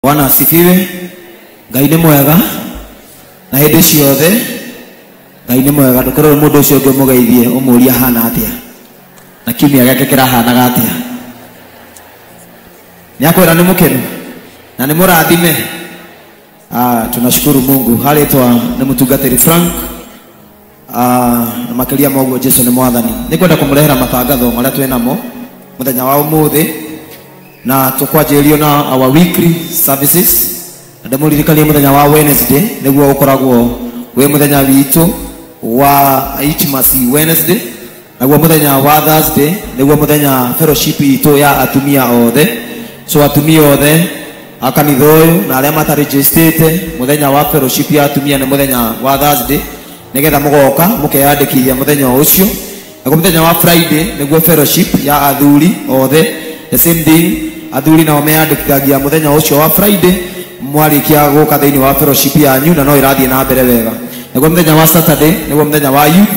bwana asifiwe ngai nĩ mwega na hĩndĩ ciothe ngai nĩ mwega ndũkorwo mũndũ ũcio ũngĩ ũmũgeithie ũmũria hana atĩa na kiumia gĩake kĩrahanaga atĩa nĩakwĩra nĩ mũkenu na nĩ mũrathime ah, tunashukuru mungu harĩtwa nĩ mũtungatĩri frank Ah, na makiria ma uguo jesu nĩ mwathani nĩ kwenda kũmũrehera matangatho marĩa twĩ namo mũthenya wa ũmũthĩ na tũkwanjĩrĩrio na our weekly services na ndĩmũririkanie mũthenya wa wednesday nĩguo ũkoragwo wĩ mũthenya witũ wa itmasi wednesday naguo muthenya wa thursday niguo muthenya fellowship itũ ya atumia othe so atumia othe a kanitha ũyũ na arĩa matarĩjĩstĩte mũthenya wa fellowship ya atumia nĩ mũthenya wa thursday nĩgetha mũgoka mũkeyandĩkithia mũthenya o ũcio naguo mũthenya wa friday nĩguo fellowship ya athuri othe the same thing athuri nao meyandĩkithagia mũthenya ũcio wa friday mwarĩkia gũka thĩinĩ wa fellowship yanyu na no ĩrathiĩ na mbere wega naguo mũthenya wa saturday nĩguo mũthenya wa youth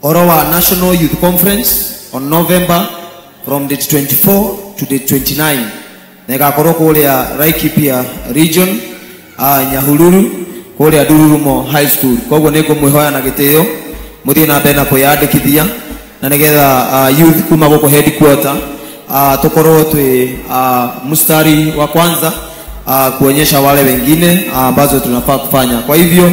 Ũhoro wa National Youth Conference on November from date 24 to date 29 na ĩgakorwo kũrĩa Laikipia region uh, Nyahururu kũrĩa Ndururumo High School. Koguo nĩ ngũmwĩhoya na gĩtĩo mũthiĩ na mbere na kwĩyandĩkithia na nĩgetha uh, youth kuma gũkũ headquarter uh, tukorwo twĩ uh, mstari wa kwanza uh, kuonyesha wale wengine uh, ambazo tunafaa kufanya. Kwa hivyo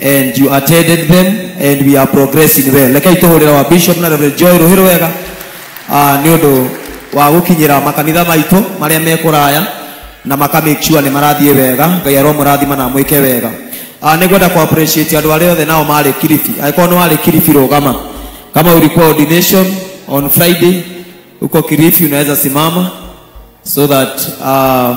and you attended them and we are progressing well rekei tũhũrĩra wa bishop na reverend joy rũhĩrũ wega ah, nĩ ũndũ wa gũkinyĩra makanitha maitũ marĩa me kũraya na maka make sure nĩ marathiĩ wega ngai aromũrathima na mwĩke wega ah, nĩ ngwenda kũ appreciate andũ arĩa othe nao marĩ kiribi angĩkorwo nĩ warĩ kiribi rũgama kama ulikuwa ordination on friday uko kiribi unaweza simama so that uh,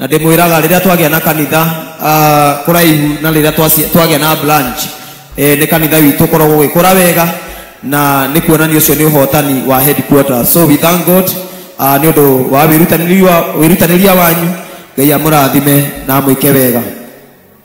na ndĩmwĩraga rĩrĩa twagĩa na kanitha ah, kũraihu na rĩrĩa twaci- twagĩa na branch eh, nĩ kanitha witũ ũkoragwo ũgĩkũra wega na nĩ kuonania ũcio nĩ ũhotani wa headquarter so we thank god ah, nĩ ũndũ wa wĩrutanĩria wa- wĩrutanĩria wanyu ngai amũrathime na amwĩke wega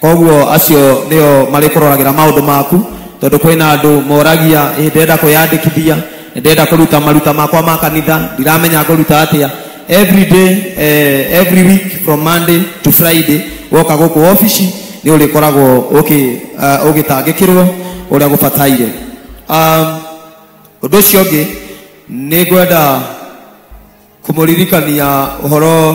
koguo acio nĩo marĩkũroragĩra maũndũ maku tondũ kwĩna andũ moragia "Ĩ, ndĩrenda kwĩyandĩkithia ndĩrenda kũruta maruta makwa ma kanitha ndiramenya ngũruta atĩa every day eh, every week from monday to friday woka gũkũ obici nĩ ũrĩkoragwo ũkĩ- ah, ũgĩtangĩkĩrwo ũrĩa gũbataire um, ũndũ ũcio ũngĩ nĩ ngwenda kũmũririkania ũhoro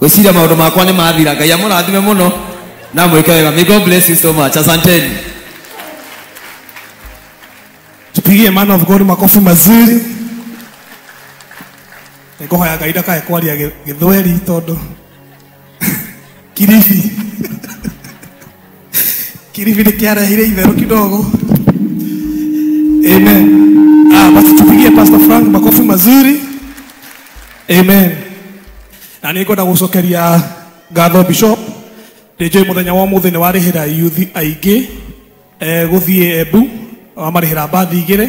gwĩciria maũndũ makwa nĩ mathira ngai amũrathime mũno na mwĩke wega may god bless you so much asanteni tupigie man of god makofi mazuri nĩngũhoya ngai ndakae kwaria gĩ- gĩthweri tondũ kiribi Kiribi nikiarahire itherũ kidogo. Amen. Ah, basi tupigie Pastor Frank makofi mazuri. Amen. Na nĩ ngwenda gũcokeria ngatho bishop nĩ njũĩ mũthenya wa mũthĩ nĩ warĩhĩra yuthi aingĩ eh, gũthiĩ embu wamarĩhĩra mbathi igĩrĩ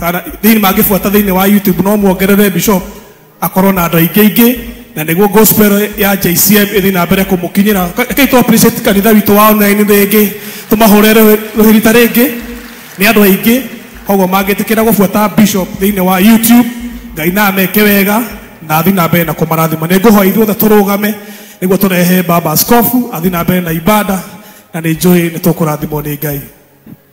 Kana thĩinĩ mangĩbuata thĩinĩ wa YouTube no muongerere Bishop akorwo na andũ aingĩ aingĩ na nĩguo gospel ya JCM ĩthiĩ na mbere kũmũkinyĩra. Ka- Rekei tũ appreciate kanitha witũ wa online rĩngĩ, tũmahũre rũhĩ- rũhĩ rita rĩngĩ nĩ andũ aingĩ. Koguo mangĩtĩkĩra gũbuata Bishop thĩinĩ wa YouTube, Ngai na ameke wega na athiĩ na mbere na kũmarathima. Nĩ ngũhoya ithuothe tũrũgame nĩguo tũrehe baba askofu athiĩ na mbere na ibada na nĩ njũĩ nĩ tũkũrathimwo nĩ Ngai.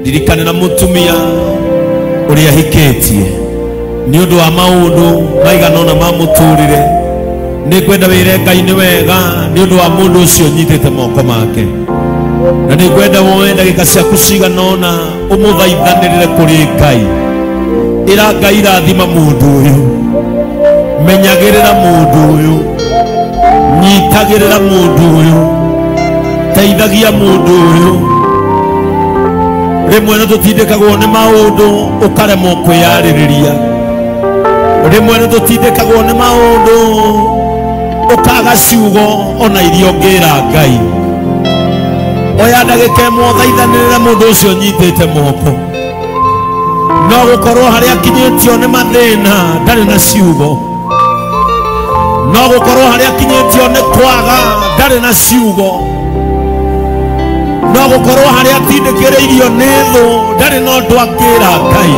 ndirikane na mũtumia ũrĩa hikĩtie nĩ ũndũ wa maũndũ maigana ũna ma mũtũrĩre nĩ ngwenda wĩre ngai nĩ wega nĩ ũndũ wa mũndũ ũcio nyitĩte moko make na nĩ ngwenda woe ndagĩka ciaku cigana ũna ũmũthaithanĩrĩre kũrĩ ngai ĩra ngai rathima mũndũ ũyũ menyagĩrĩra mũndũ ũyũ nyitagĩrĩra mũndũ ũyũ teithagia mũndũ ũyũ rĩmwe nĩ tũtindĩkagwo nĩ maũndũ ũkaremwo kwĩyarĩrĩria rĩmwe nĩ tũtindĩkagwo nĩ maũndũ ũkaga ciugo ona iria ũngĩra ngai oya ndagĩka ĩmwe ũthaithanĩrĩre mũndũ ũcio nyitĩte moko no gũkorwo harĩa akinyĩtio nĩ mathĩna ndarĩ na ciugo no gũkorwo harĩa akinyĩtio nĩ kwaga ndarĩ na ciugo no gũkorwo harĩa atindĩkĩrĩirio nĩ thũ ndarĩ na ũndũ angĩra ngai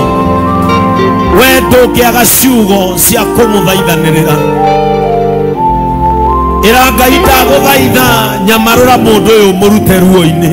we ndũngĩaga ciugo cia kũmũthaithanĩrĩra ĩra ngai ndagũthaitha nyamarũra mũndũ ũyũ mũrute ruo-inĩ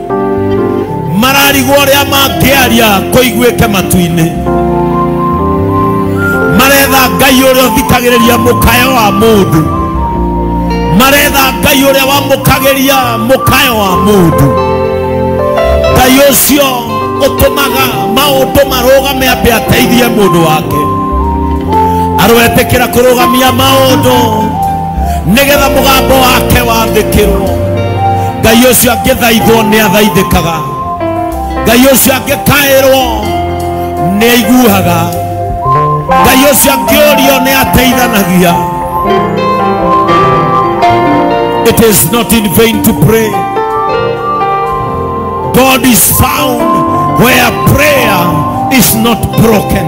mararigwo ũrĩa mangĩaria kũiguĩke matu-inĩ maretha ngai ũrĩa ũthikagĩrĩria mũkayo wa mũndũ maretha ngai ũrĩa wamũkagĩria mũkayo wa mũndũ ngai ũcio ũtũmaga maũndũ marũgame ambe ateithie mũndũ wake aroetĩkĩra kũrũgamia maũndũ nĩgetha mũgambo wake wathĩkĩrwo ngai ũcio angĩthaithwo nĩ athaithĩkaga ngai ũcio angĩkaĩrwo nĩ aiguaga ngai ũcio angĩũrio nĩ ateithanagia it is not in vain to pray god is found where prayer is not broken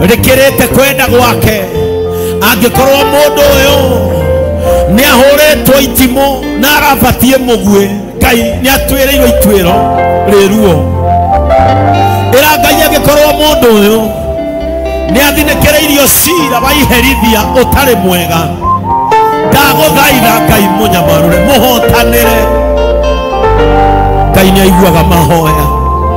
rikirite kwenda gwake angikorwo mundu uyu ni ahuritwo itimu na arabatie mugue ngai ni atwirirwo itwiro riruo ira ngai angikorwo mundu uyu ni athinĩkĩrĩirio cira wa iherithia ũtarĩ mwega ndagũthaitha ngai mũnyamarũre mũhotanĩre ngai nĩ aiguaga mahoya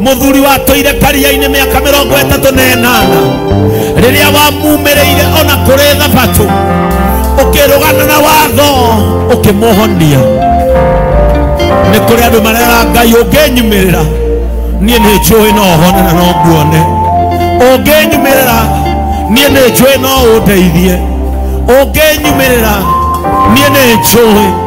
muthuri watũire karia-inĩ mĩaka mĩrongo ĩtatũ na ĩnana rĩrĩa wamumĩrĩire ona kũrĩ thabatũ ũkĩrũgana na watho ũkĩmũhonia nĩ kũrĩ andũ marera ngai ũngĩnyumĩrĩra niĩ nĩ njũĩ no hone na no nguone ũngĩnyumĩrĩra niĩ nĩ njũĩ no ũndeithie ũngĩnyumĩrĩra niĩ nĩ njũĩ